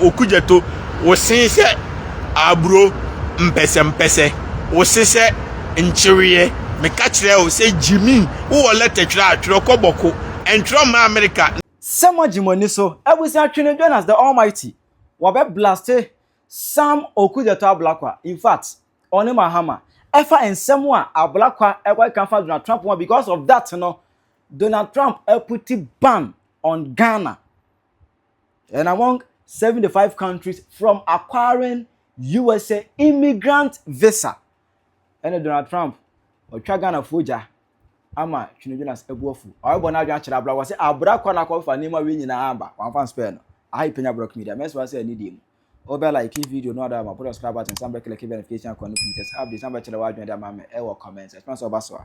Okudzeto, wo se sɛ aburo mpɛsɛmpɛsɛ, wo se sɛ nkyeweɛ, meka kyerɛɛ wo sɛ Jimmy, wowɔ lɛtɛ twerɛ a, twerɛ kɔ bɔko, ntwerɛ mma Amerika, Sɛ moagye mo ani so abusua twe no join us the almighty wɔbɛ blaste Sam Okudzeto Ablakwa infact ɔne Mahama ɛfa nsɛm a Ablakwa ɛkɔkeka afa Donald Trump ho a because of that no Donald Trump aputi ban on Ghana. and among 75 countries from acquiring usa immigrant visa ɛne donald trump ɔtwa ghanafoɔ gya ama twinodwinas abu afu ɔrebɔ no adwene akyerɛ abra wɔ sɛ abra kɔ no akɔfa nneɛma wei nyinaa aba wamfa nspɛɛ no aha ipenya brɔk media mɛsoma sɛ anidie mu wobɛ like video no ada ma put subscribe button san bɛkele ke verification akɔ no pii tɛ sɛ update san bɛkyerɛ w'adwene de ama me ɛwɔ comment ɛtuma sɛ ɔba so a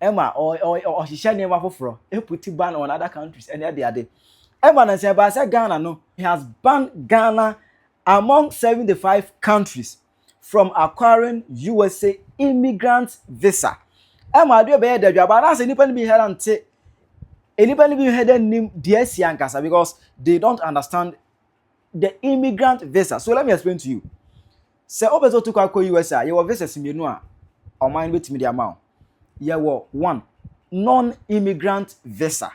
ɛma ɔhyehyɛ nneɛma foforɔ ɛputi ban on other countries ɛne ɛde ade ɛma no nsɛ ɛbaa sɛ Ghana no he has banned Ghana among 75 countries from acquiring USA immigrant visa ɛma adeɛ bɛyɛ dɛ dwa baa naasɛ nnipa no bi hɛra nte nnipa no bi hɛ dɛ nim deɛ asi ankasa because they don't understand the immigrant visa so let me explain to you Sɛ wopɛ sɛ wotu kwan kɔ US a, yɛwɔ visas mmienu a ɔman no bɛtumi de ama wo. Yɛwɔ one, non-immigrant visa,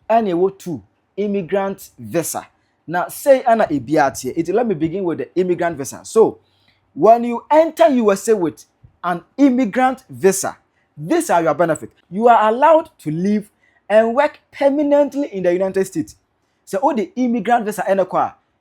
ɛne ɛwɔ two, immigrant visa. Na sei ɛna ebiara teɛ. It let me begin with the immigrant visa. So, when you enter USA with an immigrant visa, these are your benefits. You are allowed to live and work permanently in the United States. Sɛ wode immigrant visa ɛna kɔ a,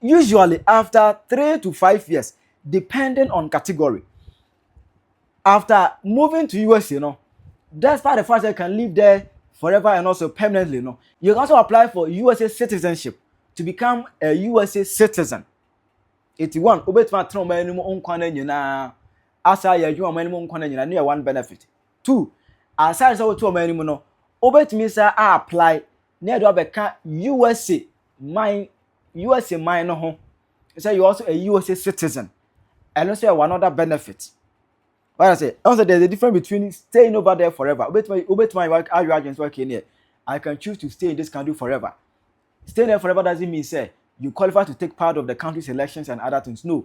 usually after three to five years depending on category after moving to usa no despite the fact that you can live there forever and also permanently no you can also apply for usa citizenship to become a usa citizen eti one obetuma atena ɔman anim nkwa na nyinaa asa yɛ adwuma ɔman anim nkwa na nyinaa ne yɛ one benefit two aside sɛ wotu ɔman anim no obetumi sa a apply na yɛde wo abɛka usa man usa man no ho sɛ you also a usa citizen ɛno nso yɛ one other benefit what i say ɛno sɛ there is a difference between staying over there forever wobɛtumi wobɛtumi ayɛ ayɛ adwene sɛ okay neɛ i can choose to stay in this country forever staying there forever doesn't mean sɛ you qualify to take part of the country's elections and other things no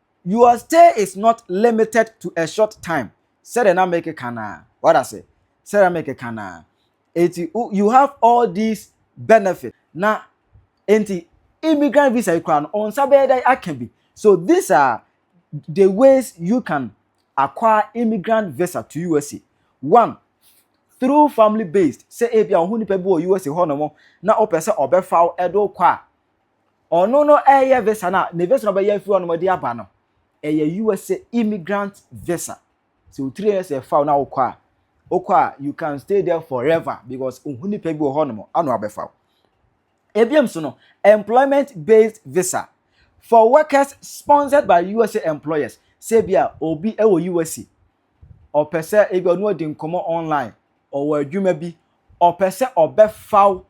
Your stay is not limited to a short time, sɛdeɛ na mekeka no ara, wate ase, sɛdeɛ na mekeka no ara. Enti you have all these benefits, na enti immigrant visa yi koraa no, wɔn nsa bɛyɛ dɛn aka bi? So these are the ways you can acquire immigrant visa to USA. One, through family based, sɛ ebi a wɔn ho nipa bi wɔ USA hɔ nom na wɔpɛ sɛ wɔbɛfa wo de wo kɔ a, ɔno no ɛyɛ visa no a ne visa no ɔbɛyɛ afiri ɔnom de aba no ɛyɛ usa immigrant visa sɛ o three years ɛfa o na wokɔ a wokɔ a you can stay there forever because ohu nipa bi wɔ hɔ nom ano abɛfa o ebiam so no employment based visa for workers sponsored by usa employers sɛ bi a obi ɛwɔ usa ɔpɛ sɛ ebi ɔno adi nkɔmmɔ online, ɔwɔ adwuma bi, ɔpɛ sɛ ɔbɛfa wo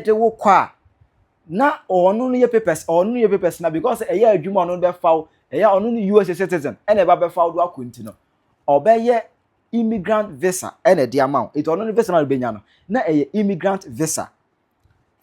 de wo kɔ a, na ɔno no yɛ papers, ɔno no yɛ papers na because ɛyɛ adwuma ɔno no bɛfa wo, ɛyɛ ɔno no US citizen, ɛna ɛba bɛfa wo do akɔ nti no, ɔbɛyɛ immigrant visa ɛna ɛde ama wo. Nti ɔno no visa na ɔbɛnya no, na ɛyɛ immigrant visa.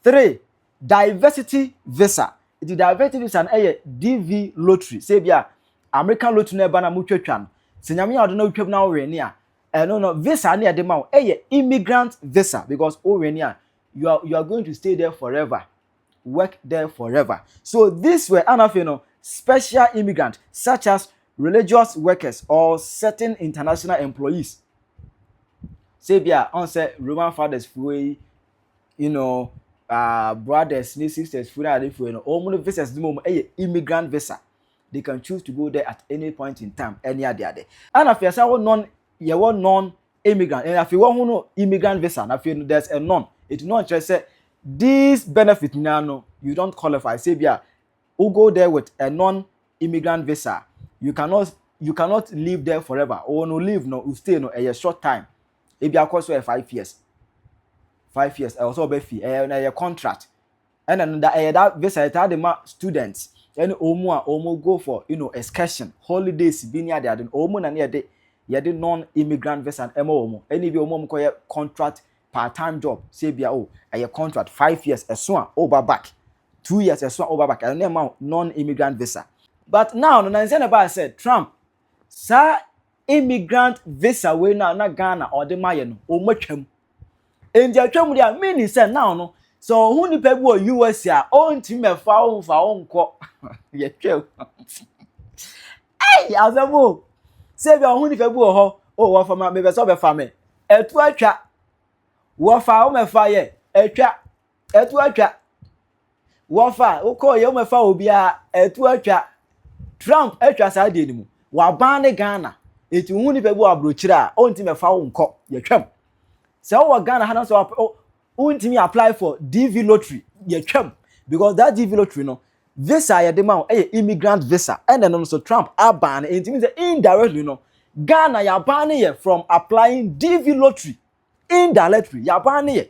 three diversity visa nti diversity visa no yɛ dv lottery sɛ ebi a american lottery na ɛba na motwa twa no sɛ nyame yɛ ɔde na wotwam na wowɛn ne a ɛno no visa ne ɛde ma wo ɛyɛ immigrant visa because wowɛn ne a you are you are going to stay there forever work there forever so this way anafei no special immigrant such as religious workers or certain international employees sɛ ebi a ɔn sɛ roman fathers fo yi you know uh, brothers ne sisters funu adefoɔ no wɔn no visas no mu yɛ immigrant visa they can choose to go there at any point in time ɛne ade ade ɛna afei ɛsɛ wɔ non yɛwɔ non immigrant ɛna afei wɔn ho no immigrant visa na afei no there's a non eti non kyerɛ sɛ this benefit nyinaa no you don't qualify sɛ bi a wo go there with a non immigrant visa you cannot you cannot live there forever wɔn no live no you stay no ɛyɛ short time. ebi akɔ so yɛ five years five years ɛwɔ sɛ ɔbɛ fi ɛyɛ na ɛyɛ contract ɛna no da ɛyɛ da visa ɛtaa de ma students ɛne wɔn a wɔn go for you know excursion holidays bi ne ade ade no wɔn na ne yɛde yɛde non immigrant visa ɛma wɔn ɛne bi wɔn a wɔn kɔ yɛ contract part time job sɛ ebi a o oh, ɛyɛ contract five years ɛso a ɔba oh, back two years ɛso a ɔba oh, back ɛno na ɛma non immigrant visa but now no na nsɛn na ɛbaa sɛ trump saa immigrant visa wei no a na Ghana ɔde ma yɛ no, wɔatwam. Enti atwam deɛ a, meaning sɛ now no, sɛ ɔho nipa bi wɔ US a, ɔntumi mɛfa wo mfa wo nkɔ. Yɛtwam. Ei, asɛm o. Sɛ bi a ɔho nipa bi wɔ hɔ, o wɔfa ma, mepɛ sɛ ɔbɛfa me. Ɛto atwa. Wɔfa a, wɔmɛfa yɛ, atwa. Ɛto atwa. Wɔfa a, wokɔɔ yɛ wɔmɛfa obiara. Ɛto atwa. Trump atwa saa deɛ no mu. Waban ne Ghana. Eti wohu nipa bi wɔ aburokyire a, ɔnti mɛfa wo nkɔ. Yɛtwam. Sɛ wowɔ Ghana ha na sɛ wontumi apply for DV lottery, yɛtwam. Because that DV lottery no, visa a yɛde ma wo yɛ immigrant visa. Ɛna ɛno nso Trump aban no. Enti sɛ indirectly no, Ghana yɛaban no yɛ from applying DV lottery. Indirectly, yɛaban no yɛ.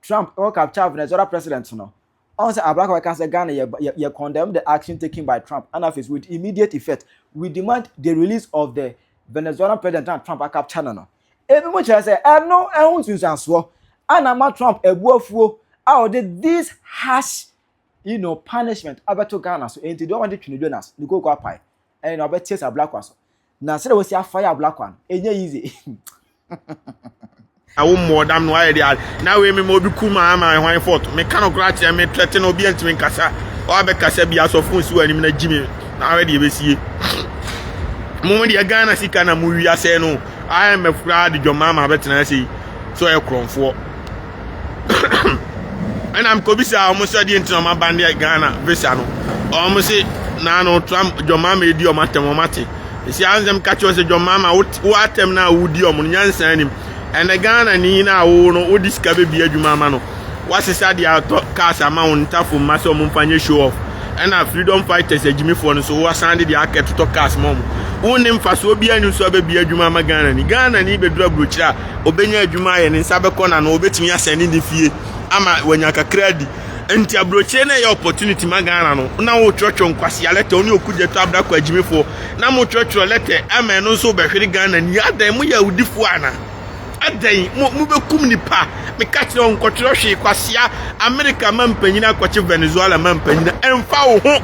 Trump kɔ capture Venezuela president no, ɔn sɛ Abraka bɛka sɛ Ghana yɛ yɛ yɛ condemn the action taken by Trump ɛna afei so with immediate effect we demand the release of the Venezuelan president a Trump a capture no no. Ebi mo kyerɛ sɛ ɛno ɛho nsunsuansoɔ a na ama Trump abu afuo a ɔde this harsh you know punishment abɛto Ghana so ɛnti deɛ ɔn de twe no Jonas ne kooko apae ɛn na ɔbɛteɛ sɛ Abraka so Na sɛ wɔsi afa yɛ abla kwa no, enye yi dze. Na wo mmɔ dam no ayɛ de a na wei mema obi ku maa ma hwan fɔt meka no koraa kyerɛ me tɛte no obi antumi nkasa ɔabɛkasa bi asɔfo nsi wɔ anim na gyi me na ahwɛ deɛ ɛbɛsie mo mo deɛ ghana sika na mo wi asɛe no imf koraa de dwɔmaa ma abɛtena ase yi so ɛyɛ korɔmfoɔ ɛna mekɔbisaa wɔn sɛ deɛ nti na wɔn abandeɛ ghana visa no wɔn se naa no trump john mama edi wɔn atɛm wɔn ate esi ansɛm ka kyerɛ sɛ john mama wo atɛm na wodi wɔn no nyansa anim ɛnɛ ghana ni na awo no wodi sika bebi adwuma ama no wasesa deɛ atɔ cars ama wɔn ntafo mma sɛ wɔn mfa nyɛ show off ɛna freedom fighters agyimifoɔ no so wasan de deɛ aka totɔ cars ma wɔn wɔn ne mfasoɔ bi ani nso abɛbi adwuma ama ghana ni ghana ni bedura burokyerɛ a ɔbɛnya adwuma ayɛ ne nsa bɛkɔ n'ano ɔbɛtumi asɛne ne fie ama wanya kakra di nti aburokyire no ɛyɛ opportunity ma ghana no na wotwerɛtwerɛ nkwasea lɛtɛ wo ne ɔkugya to abra kɔ agyimifoɔ na motwerɛtwerɛ lɛtɛ ama ɛno nso wobɛhwere ghana ni adɛn moyɛ awudifoɔ ana adɛn mobɛkum nipa meka kyerɛ wo nkɔtwerɛ hwee kwasea amerika ma mpanyini akɔkye venezuela ma mpanyini ɛmfa wo ho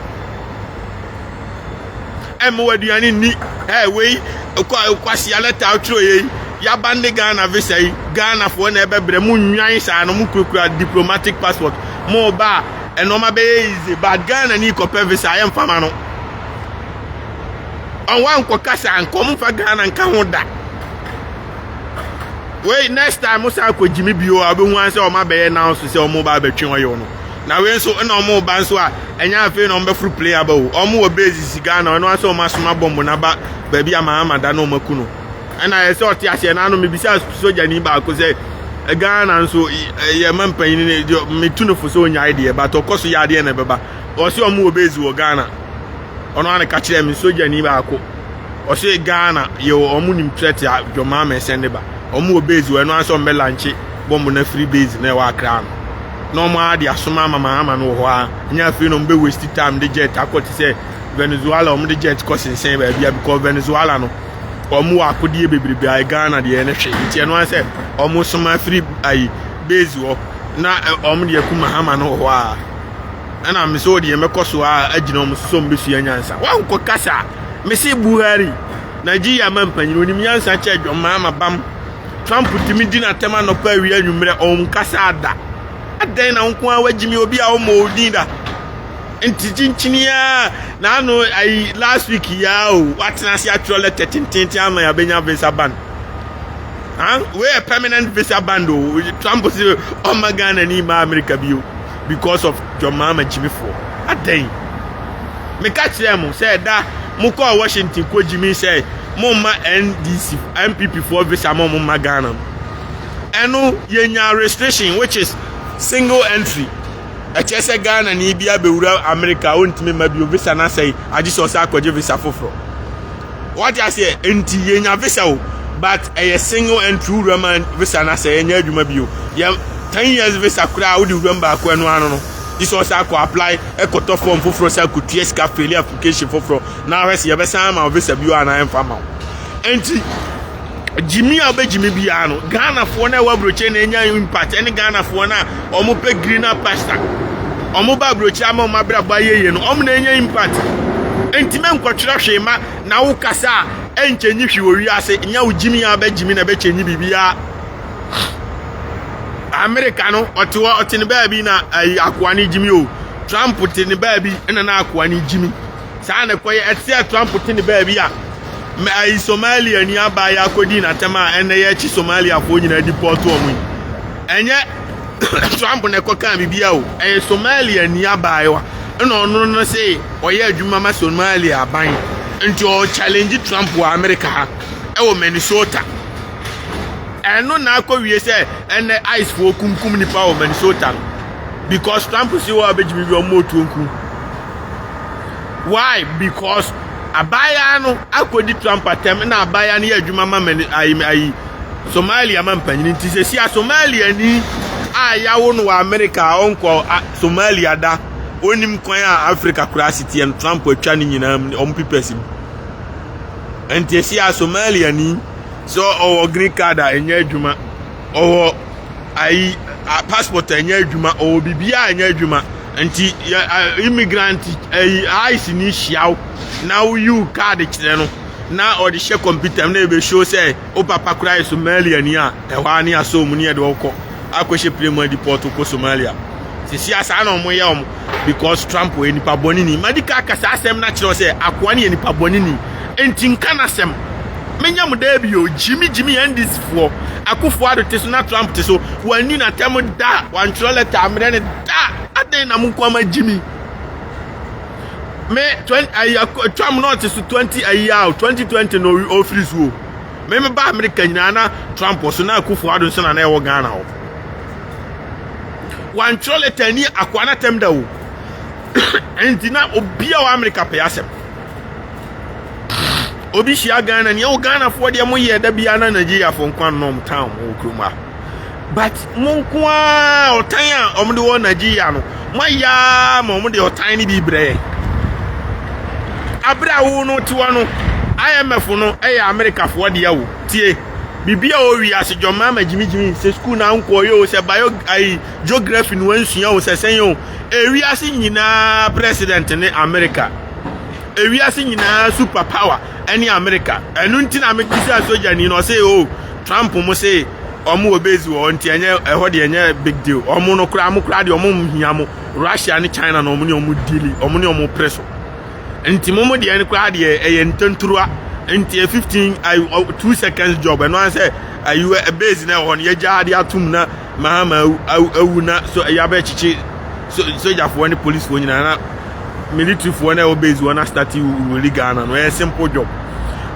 ɛmmoa aduane nni ɛɛ wei kwasia na taa twerɛ yɛ yi yaba ne ghana visa yi ghanafoɔ na ɛbɛbrɛ mo nnwan saa no mo kurakura diplomatic passport mo ba a ɛnɔɔma bɛyɛ easy but ghana ni kɔpɛ visa yɛ mfama no ɔwɔ ankɔ kasa ankɔ mo nfa ghana nka ho da wei next time mo san akɔ gyimi bio a wobɛhu ansɛ ɔma bɛyɛ now so sɛ ɔmo ba abɛtwe ɔyɛ ɔno na wei nso na wɔn ba nso a ɛnyɛ afei na wɔn bɛforo plane aba o wɔn wɔ base sisi ghana ɛno asɛ wɔn asoma bɔmbo na ba baabi a mahama da na wɔn aku no ɛna yɛ sɛ ɔte aseɛ na ano mebisa sogyani baako sɛ ghana nso yɛ ma mpanyin ne deɛ metu no fo sɛ onyae deɛ but ɔkɔ so yɛ adeɛ na ɛbɛba ɔsɛ wɔn wɔ base wɔ ghana ɔno ano ka kyerɛ me sogyani baako ɔsɛ ghana yɛ wɔn nim threat a dwɔmaa mɛsɛn ne ba wɔn wɔ base wɔ ɛno asɛ wɔn bɛ lanche bɔmbo na firi base na ɛwɔ akra no na wɔn ara de asoma amamahama no wɔ hɔ ara ɛnyɛ afei na wɔn bɛ waste time de jet akɔ te sɛ venezuela wɔn de jet kɔ sensɛn baabi a because venezuela no wɔn wɔ akodeɛ bebrebe a ghana deɛ no hwɛ nti ɛno ara sɛ wɔn soma firi ayi base hɔ na wɔn deɛ ku mahama no wɔ hɔ ara ɛna mese wɔ deɛ mɛkɔ so a agyina wɔn so sɛ wɔn bɛsua nyansa wɔnkɔ kasa mese buhari nigeria ma mpanyin onim nyansa kyɛ dwom mahama bam Trump tumi di n'atɛm anɔpa awie anwummerɛ ɔnkasa ada adɛn na nko a wagyimi obi a ɔmmɔ odin da nti kyinkyini a n'ano ayi last week yaa o watena ase atwerɛ lɛtɛ tententen ama yɛabɛnya visa ban wei yɛ permanent visa ban o Trump sɛ ɔmma Ghana ni ma Amerika bio because of john mahama gyimifoɔ adɛn meka kyerɛɛ mo sɛ ɛda mokɔɔ washington kɔ gyimi sɛ momma ndc npp foɔ visa ma ɔmo mma ghana no ɛno yɛnya restriction which is single entry ɛkyɛ sɛ ghana ne bi abɛwura america a ɔntumi ma bio visa no asɛe agye sɛ ɔsɛ akɔgye visa foforɔ Wate aseɛ nti yɛnya visa o but ɛyɛ single entry wura ma visa na sɛ yɛnyɛ adwuma bio yɛ ten years visa koraa wode wura mu baako ɛno ano no gye sɛ ɔsɛ akɔ apply ɛkɔtɔ form foforɔ sɛ akɔtua sika failure application foforɔ na ahwɛ sɛ yɛbɛsan ama visa bio anaa ɛmfa ma wo nti gyimi a wobɛgyimi biara no ghanafoɔ no a ɛwɔ aburokyire na ɛnya impact ɛne ghanafoɔ no a wɔpɛ greener pasta wɔn ba aburokyire ama wɔn abrabɔ ayɛ yie no wɔn na ɛnya impact ntoma nkɔtwerɛ hwee ma na wo kasa a ɛnkyɛ nyi hwee wɔ wiase nya wo gyimi a wobɛgyimi na ɛbɛkyɛ nyi biribiara amerika no ɔte hɔ ɔte ne baabi na ayi akoa no gyimi o trump te ne baabi na na akoa no gyimi Saa na ɛkɔ yɛ. Ɛte sɛ Trump te ne baabi a mɛ ayi Somalia ni abaa yɛ akɔdi n'atɛm a ɛnɛ yɛ akyi Somaliafoɔ nyinaa di pɔɔto wɔn yi. Ɛnyɛ Trump na ɛkɔ kaa biribi a o. Ɛyɛ Somalia ni abaayewa ɛna ɔno no se ɔyɛ adwuma ma Somalia aban nti ɔɔ challenge Trump wɔ America ha ɛwɔ Minnesota. Ɛno na akɔ wie sɛ ɛnɛ ICE foɔ kumkum nipa wɔ Minnesota no because Trump se wɔ abɛgyimi bi ɔmo otuo nkum. Why? Because abaayaa no akɔdi tra mpatam na abaayaa no yɛ adwuma ma mani ayi ayi Somalia ma mpanyin nti sɛ si a Somalia ni a yawo no wɔ Amerika a ɔnkɔ Somalia da onim kwan a Afrika koraa si teɛ no Trump atwa ne nyinaa mu wɔn pipɛs mu nti esi a Somalia ni sɛ ɔwɔ green card a ɛnyɛ adwuma ɔwɔ ayi passport a ɛnyɛ adwuma ɔwɔ biribiara a ɛnyɛ adwuma. Nti yɛ immigrant ɛyi ice ni hyia wo na woyiw card kyerɛ no na ɔde hyɛ kɔmputa mu na ebe show sɛ o papa kura yɛ Somalia ni a ɛhɔ ara ne asɔ mu ne yɛde ɔkɔ akɔhyɛ plane mu adi pɔt kɔ Somalia sisi asaa na wɔn yɛ wɔn because Trump yɛ nipa bɔne ni madi ka kasa asɛm na kyerɛ sɛ akoa ne yɛ nipa bɔne ni. enti nka n'asɛm. Menyɛ mo daabi o, gyimi gyimi NDC foɔ. Akufo Addo te so na Trump te so, wɔanni no atɛm da, wɔantwerɛ lɛta ammrɛ no da, adɛn na mo nko ara moagyimi? Me twen ayi ak Trump na ɔte so 20 ayi a o, 2020 na ɔwi ɔfiri so o. Me meba Amerika nyinaa na Trump wɔ so na Akufo Addo nso na na ɛwɔ Ghana hɔ. Wɔantwerɛ lɛta anni akoa no atɛm da o, enti na obi a wɔ Amerika pɛ asɛm. obi hyia ghana ni ɛwɔ ghanafoɔ deɛ mo yɛ da biara na nigeriafoɔ nko anom tan mo wɔ kurom a but mo nko ara ɔtan a wɔn de wɔ nigeria no mo ayɛ ara ma wɔn de ɔtan no bi brɛ yɛ abere a wo no te hɔ no imf no ɛyɛ amerikafoɔ deɛ wo tie biribi a ɔwi ase dwɔma ma gyimigyimi sɛ sukuu na nkɔɔyɛ o sɛ bio ayi geography no ansua o sɛ sɛn o ewiase nyinaa president ne america ewiase nyinaa super power ɛne america ɛno nti na mekisa sogyani na ɔsɛ o oh, trump mo se ɔmo wɔ base wɔ hɔ nti ɛnyɛ ɛhɔ deɛ ɛnyɛ big deal ɔmo no koraa mo koraa deɛ ɔmo nhia mo russia ne china na ɔmo ne ɔmo dili ɔmo ne ɔmo pere so nti mo mo deɛ no koraa deɛ ɛyɛ ntanturuwa nti fifteen two seconds job ɛno ara sɛ ayiwa base na ɛwɔ hɔ no yɛgya ade atum na Mahama awu, awu, awu na so ɛyɛ abɛkyekye so sogyafoɔ ne policefoɔ nyinaa na militaryfoɔ na ɛwɔ base wɔn na start wuli Ghana no ɛyɛ simple job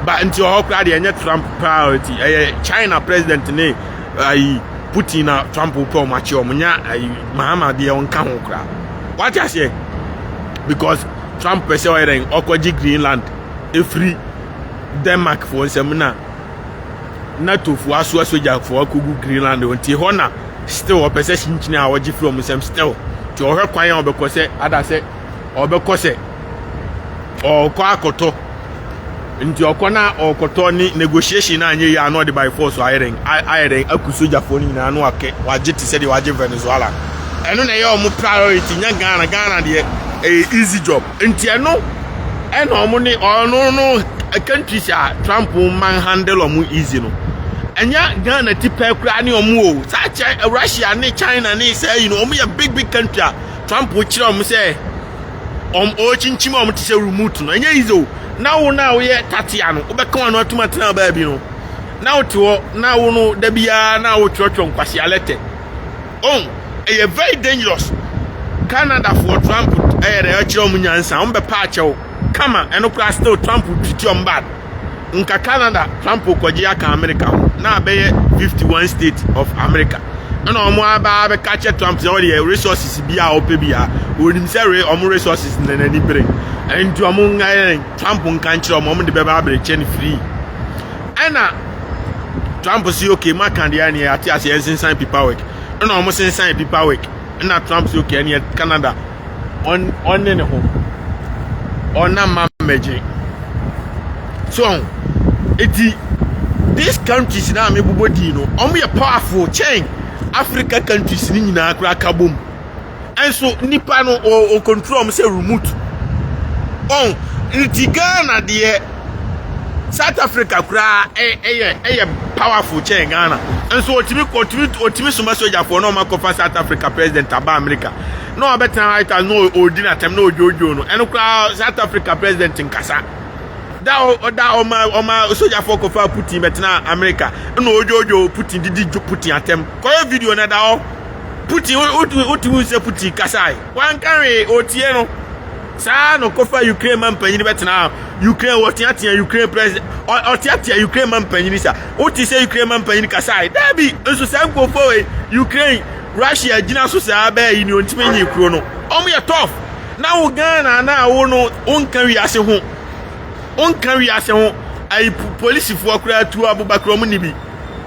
ba nti ɔhɔ koraa deɛ ɛnyɛ Trump priority ɛyɛ China president ne ayi Putin na Trump pɛ wɔn akye wɔn nya ayi Mahama deɛ ɔnka ho koraa wate aseɛ because Trump pɛ sɛ ɔyɛ dɛn ɔkɔgye Greenland efiri Denmark foɔ nsam na. na tofo asoa sogyafo akogu greenland hɔ nti hɔ na still ɔpɛ sɛ kyinkyin a ɔgye firi ɔmo nsam still nti ɔhwɛ kwan a ɔbɛkɔ sɛ ada sɛ ɔbɛkɔ sɛ ɔkɔ akɔtɔ nti ɔkɔ na ɔkɔtɔ ne negotiation a nyɛ yie ano ɔde by force ayɛ dɛn ayɛ dɛn aku sogyafoɔ no nyinaa no akɛ wagye te sɛ deɛ wagye venezuela ɛno na ɛyɛ ɔmo priority nyɛ ghana ghana deɛ ɛyɛ easy job Nti ɛno ɛna ɔmo ne ɔno no countries a Trump man handle ɔmo easy no ɛnyɛ Ghana ti pɛ koraa ne ɔmo o saa kyɛ Russia ne China ne saa yi no ɔmo yɛ big big country a Trump kyerɛ ɔmo sɛ ɔmo ɔkyinkyim ɔmo te sɛ remote no ɛnyɛ easy o na wo na woyɛ tatia no wobɛka wɔn atum atena baabi no na wote hɔ na wo no da biara na wotwerɛtwerɛ nkwasi alɛtɛ Oh ɛyɛ very dangerous Canada foɔ Trump ɛyɛ dɛ ɛkyerɛ wɔn nyansa wɔn bɛpa akyɛw kama ɛno koraa still Trump treat wɔn bad nka Canada Trump kɔgye aka America ho na abɛyɛ 51 state of America ɛna wɔn aba abɛka akyɛ Trump sɛ ɔdeɛ resources bi a ɔpɛ bi a wɔnim sɛ re wɔn resources na n'ani bere ɛnti wɔn nka yɛn Trump nka nkyerɛ wɔn wɔn de bɛba abere kyɛ no free. ɛna trump si okay maka deɛ ɛneɛ ate ase ɛnsensan pipawick ɛna wɔn sensan pipawick ɛna trump si okay ɛneɛ canada ɔn ɔne ne ho ɔna ma mmɛgye so ɔn eti these countries na mebobɔ din no wɔn yɛ powerful kyɛn africa countries ne nyinaa koraa ka bom. Nso nipa no o control ɔmo sɛ remote. Ɔn nti Ghana deɛ South Africa koraa ɛyɛ ɛyɛ powerful kyɛn Ghana. Nso otimi otimi otimi soma sojafoɔ na ɔmo akɔfa South Africa president aba America. Na ɔbɛtena White House na ɔdi n'atɛm na ɔdwoodwoo no. Ɛno koraa South Africa president nkasa. Da ɔda ɔma ɔma sojafoɔ kɔfa Putin bɛtena America na ɔdwoodwoo Putin didi Putin atɛm. Kɔyɛ video na da hɔ. Putin, wote hu sɛ Putin kasae, wanka hwee, otie no. Saa na ɔkɔfa Ukraine ma mpanyin bɛtena Ukraine, wɔteatea Ukraine president, ɔteatea Ukraine ma mpanyin sa. Wote sɛ Ukraine ma mpanyin kasae, daabi, nso saa nkurɔfoɔ wei, Ukraine, Russia gyina so saa bɛɛ yi ne ɔntumi nyi kuro no. Wɔn yɛ tough. Na wo Ghana na wo no, wonka wiase ho, wonka wiase ho, ayi polisifoɔ koraa tuo abobakra wɔn ni bi.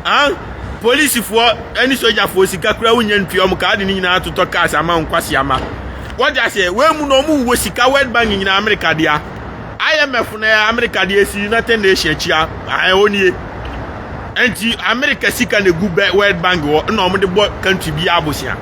Ahn, polisifoɔ ne sogyafoɔ sika koraa wonya ntua wɔn kaa de ne nyinaa totɔ cars ama wɔn nkwaseama. Wɔde aseɛ, wɔn mu no wɔn wɔ sika World Bank nyinaa Amerika dea. IMF na ɛyɛ Amerika dea esi United Nation akyi a, ahn ɛwɔ nie. Nti Amerika sika na egu bɛ World Bank hɔ na wɔn de bɔ country bi abosea.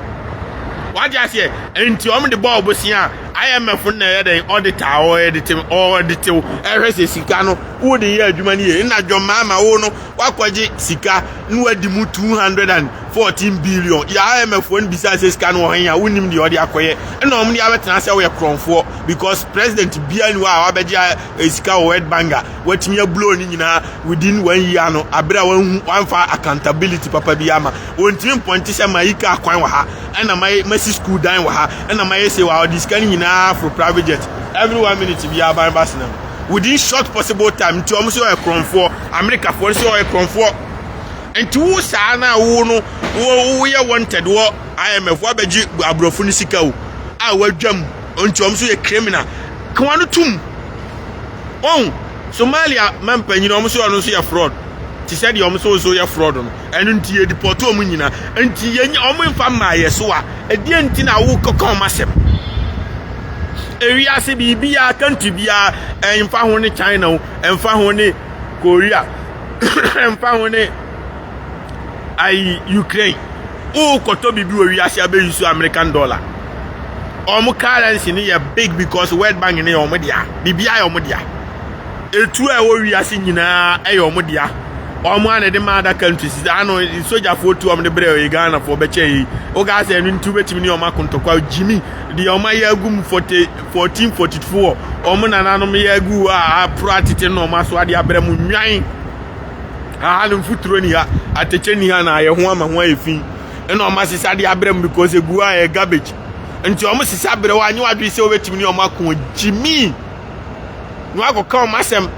Wɔde aseɛ, nti wɔn de bɔ ɔbosea a IMF na ɛyɛ dɛn ɔde taa ɔde te ɔde tew ɛhwɛ sɛ sika no wode yɛ adwuma no yie. Nna John Mahama wo no wakɔgye sika na wadi mu two hundred and fourteen billion yɛ imf foɔ no bisaa sɛ sika no wɔ hɛn a wonim deɛ ɔde akɔyɛ ɛna wɔn de abɛtena sɛ woyɛ korɔnfoɔ because president biara ni hɔ a wabɛgye eh, sika wɔ world bank a watumi abulow ne nyinaa within one year no abere a wɔnhu wɔnfa accountability papa bi ama wɔntumi mpɔnte sɛ ma yi kaa kwan wɔ ha ɛna ma masi school dan wɔ ha ɛna ma yɛ se wɔ ha ɔde sika no nyinaa for private jet every one minute bi aban ba senam within short possible time nti wɔn sɛ ɔyɛ korɔnfoɔ amerikafoɔ no sɛ ɔyɛ korɔnfoɔ nti wo saa na wo no wo woyɛ wanted wɔ imf wabɛgye aborɔfo no sika o a wadwam nti wɔn so yɛ criminal kawa no tum wɔn somalia mampanyini wɔn so ɔno nso yɛ fraud te sɛ deɛ wɔn so nso yɛ fraud no Ɛno nti yɛ depɔte wɔn nyinaa. Nti yɛ wɔn mfa mmaa yɛ so a, ɛdeɛ nti na wo kɔka wɔn asɛm? Ewiase biribiara country biara ɛnfa ho ne China o, ɛnfa ho ne Korea, ɛnfa ho ne ayi Ukraine. Wo kɔtɔ biribi wɔ wiase abɛyi so American dollar. Wɔn currency no yɛ big because World Bank no yɛ wɔn dea. Biribiara yɛ wɔn dea. etuo a ɛwɔ wiase nyinaa yɛ wɔn dea wɔn a na ɛde ma adaka nti sisi ano sogyafoɔ tu wɔn de brɛ ɔyɛ ghanafoɔ bɛkyɛ yi wogaa sɛ ɛno nti wobɛtumi ne wɔn akontɔkwa gyimi deɛ wɔn ayɛ agu mu forty fourteen forty four wɔn nananom yɛ agu hɔ a aporo atete na wɔn aso adeɛ abrɛ mu nnwan aha no mfuturo ni ha atɛkyɛ ni ha na ayɛ ho ama ho ayɛ fi ɛna wɔn asesa adeɛ abrɛ mu because egu a ɛyɛ garbage nti wɔn sesa brɛ wɔn anyi wɔn adwene sɛ wobɛtumi ne wɔn ako gyimi. na wakɔka wɔn asɛm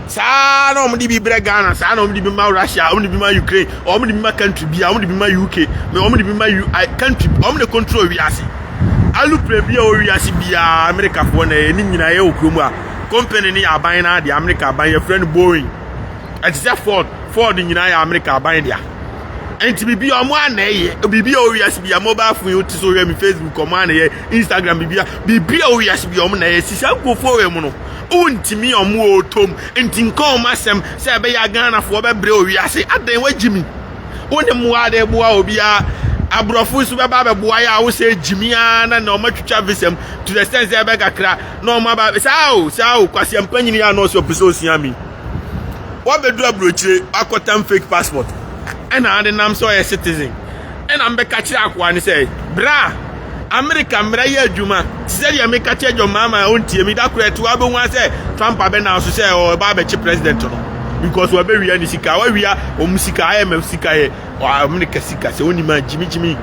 saa na wɔn de bi brɛ ghana saa na wɔn de bi ma russia wɔn de bi ma ukraine wɔn de bi ma country bi a wɔn de bi ma uk na wɔn de bi ma u country wɔn de control wiase alupere bi a wɔ wiase biara amerikafoɔ na ɛyɛ ne nyinaa yɛ wɔ kurom a company ne yɛ aban na adeɛ amerika aban yɛfrɛ no boeing ɛte sɛ ford ford nyinaa yɛ amerika aban dea nti biribi a wɔn anɛyɛ biribi a wɔ wiase biara mobile phone yi wote so wɔyɛ mi facebook wɔn anɛyɛ Instagram bibia bibia o wiase bi ɔmo na ɛyɛ si saa nkurɔfoɔ wɔ mu no wontumi ɔmo wɔ ɔtɔm nti nka ɔmo asɛm sɛ ɛbɛyɛ aghanafoɔ bɛbrɛ o wiase adɛn wagyi mi wo ne mmoa adɛ boa obiara aborɔfo nso bɛba abɛboa yɛ a wo sɛ gyimi ara na na ɔmo atwitwa visam to the sense sɛ ɛbɛkakra na ɔmo aba saa o saa o kwasi ampa nyini yɛ a na ɔsɛ ɔpɛ sɛ osua mi wabɛduru aburokyire akɔtam fake passport ɛna ade nam sɛ ɔyɛ citizen Ɛnna mebɛka kyerɛɛ akoa no sɛ, Bra Amerika mmra yɛ adwuma. Te sɛ deɛ meka kyerɛ John Mahama a ɔntie me, da koro ɛte hɔ abɛhu ara sɛ Trump abɛnam so sɛ ɔreba abɛkye president no because wabɛwia ne sika, wawia wɔn sika, IMF sika yɛ Amerika sika, sɛ wonim a gyimigyimi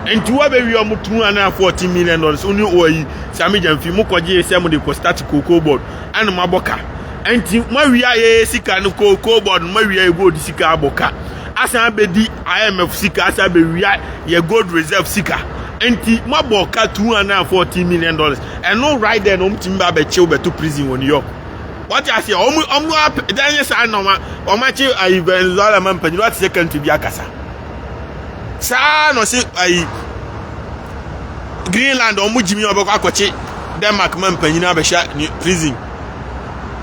nti wabɛwia wɔn 214 million dollars, wo ne ɔyi Sami Gyamfi mo kɔgye sɛ mo de kɔ start cocoa board, ɛna mo abɔ ka. Nti moawia yɛ sika no cocoa board no moawia yɛ gold sika abɔ ka asan abɛdi IMF sika asa abɛwia yɛ gold reserve sika nti moabɔ ɔka 214 million dollars ɛno right there na ɔmtumi ba abɛkye wobɛto prison wɔ New York wate aseɛ ɔmo ɔmo apɛ dan yɛ saa na ɔma ɔmo akye ayi Venezuela ma mpanyin wate sɛ country bi akasa saa na ɔse ayi Greenland ɔmo gyimi ɔbɛkɔ akɔkye Denmark ma mpanyin abɛhyɛ prison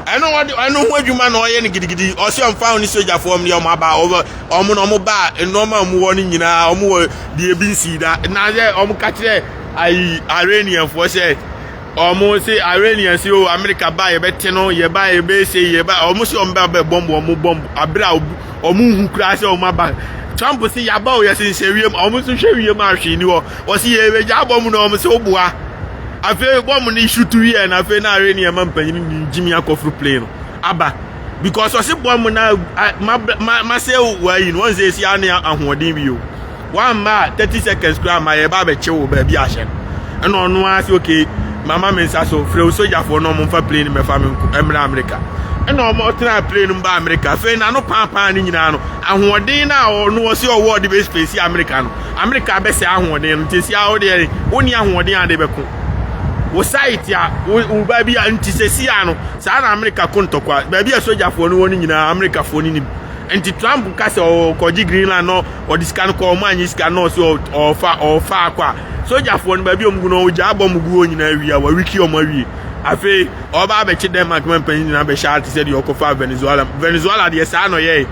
ɛno ɔde ɛno ho adwuma na ɔyɛ no gidigidi ɔse ɔmfa ɔne sogyafoɔ ɔmo deɛ ɔmo aba ɔmo wɔn na wɔn baa nneɛma a wɔn wɔ no nyinaa wɔn wɔ deɛ ebi nsii da na sɛ wɔn ka kyerɛ ayi iranianfoɔ sɛ wɔn se iranian se o amerika ba yɛbɛte no yɛba yɛbɛse yɛba wɔn se wɔn ba bɛ bɔmb wɔn bɔmb abere a wɔn hu koraa sɛ wɔn aba trump se yaba o yɛsenhyɛ wiem wɔn nso hwɛ wiem a hwee ni hɔ wɔsi yɛbɛgya bɔmb na wɔn se woboa afei bɔmb no isu tu wiɛ na afei na iranian ma mpanyin ni jimmy akɔforo plane no aba. because ɔse bɔ mo na masɛ wayi no ɔnsɛ ɛsi ane ahoɔden bi o wamma a 30 seconds koraa ma yɛba bɛkye wo baabi ahyɛ no ɛna ɔno ara sɛ okay mama me nsa so frɛ wo sogyafoɔ na ɔmomfa plane mɛfa me mmra amerika ɛna ɔmɔtena plane mu ba amerika afei na no paapaa no nyinaa no ahoɔden no a ɔno ɔse ɔwɔ ɔde bɛspɛsi amerika no amerika bɛsɛ ahoɔden no nti si a wodeɛ wo ne ahoɔden ade bɛko wo site a wo baabi a nti sɛsi a no saa na amerika ko ntɔkwa baabi a sogyafoɔ no wɔ no nyinaa amerikafoɔ no nim nti trump ka sɛ ɔkɔgye greenland no ɔde sika no kɔ ɔmo anyi sika no ɔsi ɔfa ɔfa akɔ a sogyafoɔ no baabi a ɔmo gu no ɔgya abɔ ɔmo gu hɔ nyinaa awie a wawiki ɔmo awie afei ɔba abɛkye denmark ma mpanyin nyinaa bɛhyɛ ate sɛ deɛ ɔkɔfa venezuela venezuela deɛ saa na ɔyɛe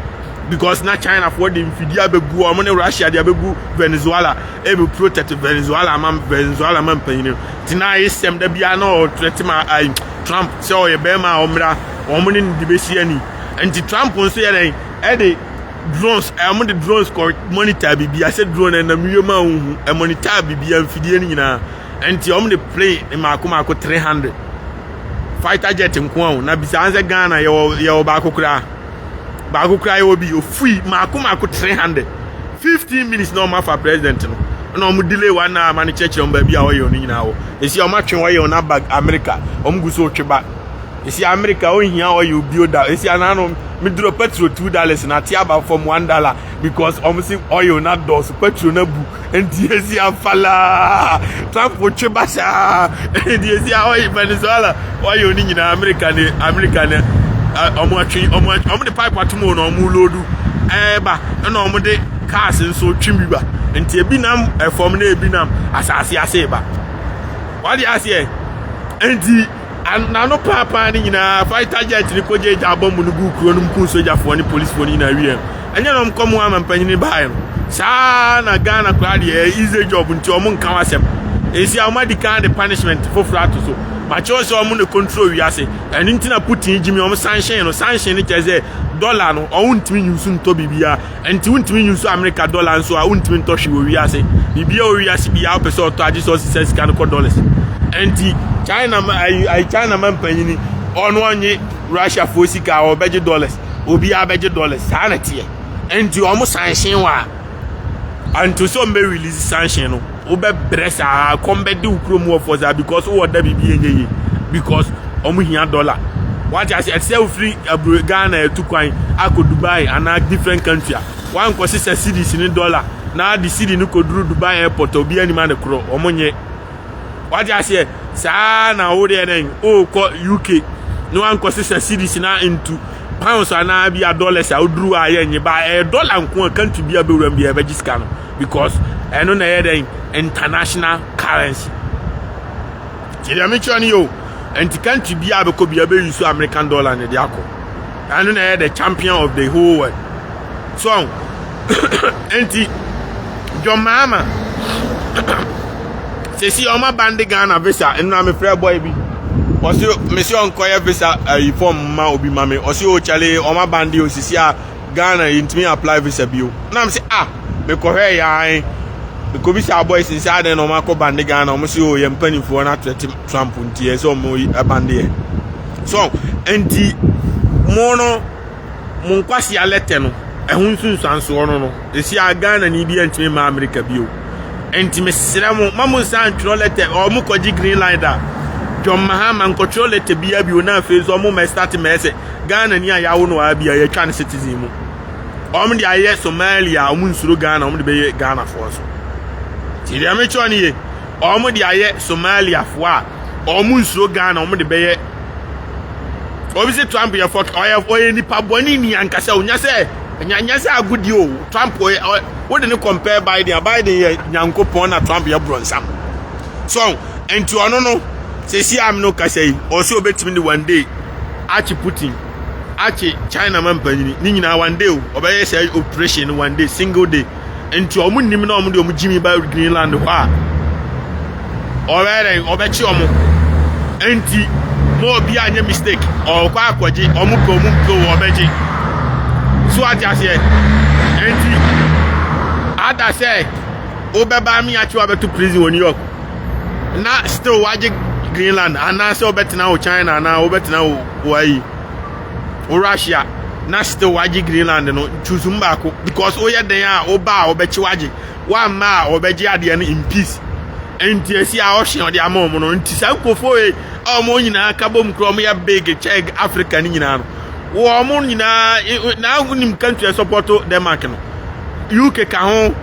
because na chinafoɔ de mfidie abɛgu ɔmo ne russia de abɛgu venezuela Ebu pro tɛte Venezuela ma Venezuela ma mpanyin no ti na ayɛ sɛm da biara na ɔtrɛ te ma ai Trump sɛ ɔyɛ bɛrima a ɔmmra wɔn ne ne de bɛsi ani nti Trump nso yɛ dɛn ɛde drones ɛmo de drones kɔ monitor biribi asɛ drone ɛnam wiem a wohu ɛmonitor biribi mfidie no nyinaa nti wɔn de plane mmaako mmaako 300 fighter jet nko a na bisa sɛ Ghana yɛwɔ yɛwɔ baako koraa baako koraa yɛwɔ bi ofui mako mako three hundred fifteen minutes na wɔn afa president no na wɔn delay one hour ma no kyerɛkyerɛ wɔn baabi a wɔyɛ wɔn nyinaa wɔ esi wɔn atwe wɔyɛ wɔn aba america wɔn gu so twe ba esi america wɔn hia wɔyɛ obi oda esi anano meduro petrol two dollars na ate aba fam one dollar. Because wɔn si oil na dɔɔso petrol na bu nti esi afalaa trump twe ba saa nti esi oil venezuela oil ni nyinaa america ne america ne wɔn atwe wɔn wɔn de pipe atum wɔn na wɔn loodu ɛɛba ɛna wɔn de cars nso twi bi ba nti ebi nam ɛfam na ebi nam asaase ase ba wade aseɛ nti. N'ano paapaa ne nyinaa, fighter jet no kɔgyaa gya bɔmb no guu kuro no mu kum sogyafoɔ ne policefoɔ no nyinaa wieeɛ no, ɛnyɛ na wɔkɔ mu ama mpanyin no baeɛ no? Saa ara na Ghana koraa deɛ, ɛyɛ easy job nti wɔnka ho asɛm. Enti a wɔadi kan de punishment foforɔ ato so. Makyerɛw sɛ wɔn na control wiase. Ɛno nti na Putin gyimii wɔn sanhyen no, sanhyen no kyerɛ sɛ dollar no, wɔntumi nyi nsu ntɔ biribiara. Ɛnti wontumi nyusu America dollar nso a wontumi ntɔ hwee wɔ wiase. Biribiara wɔ wiase biara wopɛ sɛ ɔtɔ agye sɛ ɔsi sɛ sika no kɔ dollars. Ɛnti China ma ayi ayi China ma mpanyini ɔno ɔnye Russia foɔ sika a ɔbɛgye dollars obiara bɛgye dollars saa na teɛ. Ɛnti ɔmo sanhyɛn wɔ a ɛnto sɛ ɔmo bɛ release sanhyɛn no. wobɛbrɛ saa kɔm bɛde wo kurom wɔfoɔ saa because wowɔ da biribi ɛnyɛ yie because wɔn hia dɔla wate ase ɛte sɛ wofiri aburo ghana ɛtu kwan akɔ dubai anaa different country a wankɔ sesa series ne dɔla na de siri no kɔduru dubai airport a obi anima ne korɔ wɔn nyɛ wate aseɛ saa na wo deɛ dɛn wokɔ uk na wankɔ sesa series na ntu pounds anaa bi a dollars a woduru a yɛ nye ba ɛyɛ dɔla nko a country bi a bɛwuram bi a ɛbɛgye sika no because ɛno na ɛyɛ dɛn international currency nti deɛ mekyerɛ no yɛ o nti country biara bɛkɔ biara bɛyi so american dollar ne de akɔ ɛno na ɛyɛ the champion of the whole world so nti john mahama sɛsi ɔma bande ghana visa ɛno na mefrɛ bɔe bi ɔse mesi ɔnkɔyɛ visa ayi eh, fɔm ma obi ma me ɔse o kyale ɔma bande osisi a Ghana yɛntumi apply visa bio na me sɛ ah mekɔhwɛ yɛan mekɔbisaa boys n sɛ adɛn na ɔma akɔ bande Ghana ɔmo sɛ o oh, yɛ mpanimfoɔ no atrɛte Trump nti yɛ sɛ ɔmo yi ɛbande yɛ so nti mo no mo nkwasi alɛtɛ no ɛho nsunsuansoɔ no no ɛsi a Ghana ni bi yɛntumi ma Amerika bio nti mesrɛ mo ma mo nsa ntwerɛ lɛtɛ ɔmo kɔgye green line da John Mahama nkɔtwerɛ lɛtɛ biara bio na afei nso ɔmo mɛ start mɛ sɛ Ghana ni a yawo no a bi a yɛtwa ne citizen mu. Wɔn de ayɛ Somalia a wɔn nsuro Ghana wɔn de bɛyɛ Ghana foɔ nso. Ti deɛ mekyerɛ ne ye wɔn de ayɛ Somalia foɔ a wɔn nsuro Ghana wɔn de bɛyɛ obi sɛ Trump yɛ fɔk ɔyɛ ɔyɛ nipa bɔne ni ankasa onya sɛ nyanya sɛ agodi o Trump ɔyɛ wode ne compare Biden Biden yɛ nyankopɔn na Trump yɛ bronsam so nti ɔno no sɛsi am no kasa yi ɔsɛ obetumi ne one day akye Putin, akye China ma mpanyin, ne nyinaa one day o, ɔbɛyɛ sɛ operation no one day, single day. Nti ɔmo nim na ɔmo de ɔmo gyimi ba Greenland hɔ a, ɔbɛyɛ dɛn, ɔbɛkye ɔmo. Nti, ma obi anyɛ mistake, ɔkɔ akɔgye, ɔmo pɛ ɔmo mpɛ o, ɔbɛgye. So ate aseɛ? Nti, ada sɛ wobɛba me akye wabɛto prison wɔ New York. na still wagye greenland anaasɛ wobɛtena wo china anaa wobɛtena wo wayi wo russia na still wagye greenland no choose mu baako because woyɛ dɛn a woba a wɔbɛkye wagye woamma a wɔbɛgye adeɛ no in peace nti asi a ɔhye ɔde ama wɔn no nti saa nkurɔfoɔ yi a wɔn nyinaa ka bom kura wɔn yɛ big kyɛ africa no nyinaa no wɔn nyinaa na wonim country support denmark no uk ka ho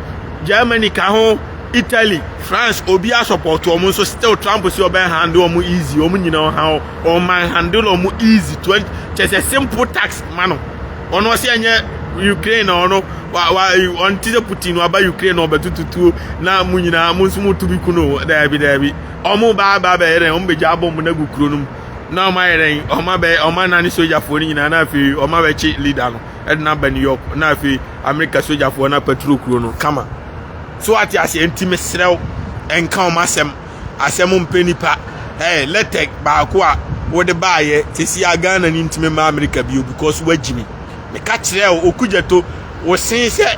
germany ka ho Italy, France obi a support wɔn nso still Trump si ɔbɛn handle wɔn easy wɔn nyinaa ɔha wɔn wɔn man handle wɔn easy twenty kyɛ sɛ simple tax ma no ɔno ɔsi ɛnyɛ Ukraine na ɔno wa wa ɔn ti sɛ Putin na ɔba Ukraine na ɔbɛtutu tuo na mo nyinaa mo nso mo tu bi ku no daabi daabi wɔn ba aba abɛyɛ dɛ wɔn bɛgya abɔ wɔn agu kuro no mu na wɔn ayɛ dɛ wɔn abɛ wɔn anane sogyafoɔ no nyinaa na afei wɔn abɛkye leader no ɛde no aba New York na afei America sogyafoɔ no apaturo kuro no kama. So wate aseɛ? Nti mesrɛ wo, nka wɔn asɛm. Asɛm mpɛ nipa. Ɛɛ lɛtɛ baako a wode baayɛ sisi a Ghana ni ntumi mma Amerika bio because wagyi me. Meka kyerɛ wo Okudzeto, wo se sɛ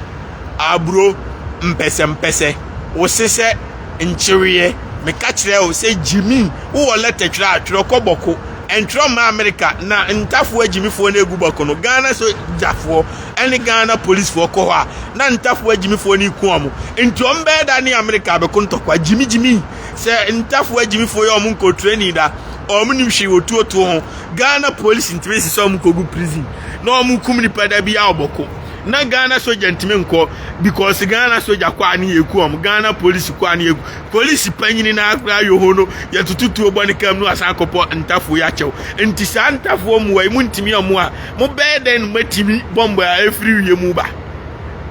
aburo mpɛsɛmpɛsɛ, wo se sɛ nkyeweɛ. Meka kyerɛ wo sɛ gyimi, wowɔ lɛtɛ twerɛ a, twerɛ kɔ bɔko. Ntwerɛ mma Amerika na ntafoɔ gyimifoɔ no egu bɔko no. Ghana so gyafoɔ. ɛne Ghana polisfoɔ kɔ hɔ a na ntafoɔ agyimifoɔ no reku wɔn nti wɔn bɛyɛ da ne Amerika abɛko ntɔkwa gyimigyimi sɛ ntafoɔ agyimifoɔ yɛ wɔn nkɔ training da wɔn nim hwee wɔ tuotuo ho Ghana polisi ntumi sisi wɔn nkɔ gu prison na wɔn kum nipa da bi a wɔbɔko na Ghana soja ntumi nkɔ because Ghana soja kɔ a ne yɛ eku wɔn Ghana polisi kɔ a ne yɛ eku polisi panyini na akora yɛ hɔ no yɛ tututuo bɔ ne kam no asan akɔpɔ ntafoɔ yɛ akyɛw nti saa ntafoɔ mu wɔ emu ntumi wɔn a Mobɛyɛ dɛn na moatumi bɔmbɔ a ɛfiri wie mu ba?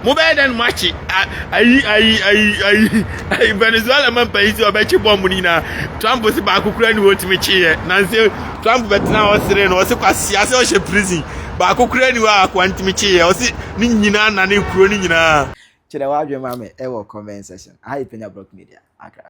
Mobɛyɛ dɛn na moakye ayi ayi ayi ayi ayi Venezuela ma mpanyin sɛ ɔbɛkye bɔmb no nyinaa? Trump sɛ baako kura ni wɔtumi kyeeɛ nanse Trump bɛtena hɔ sere no ɔse kwasea sɛ ɔhyɛ prison baako kura ni hɔ a akoa ntumi kyeeɛ ɔse ne nyinaa nane kuro no nyinaa. Kyerɛ w'adwene ma me wɔ comment section. Aha yɛ Penya Brock Media, Accra.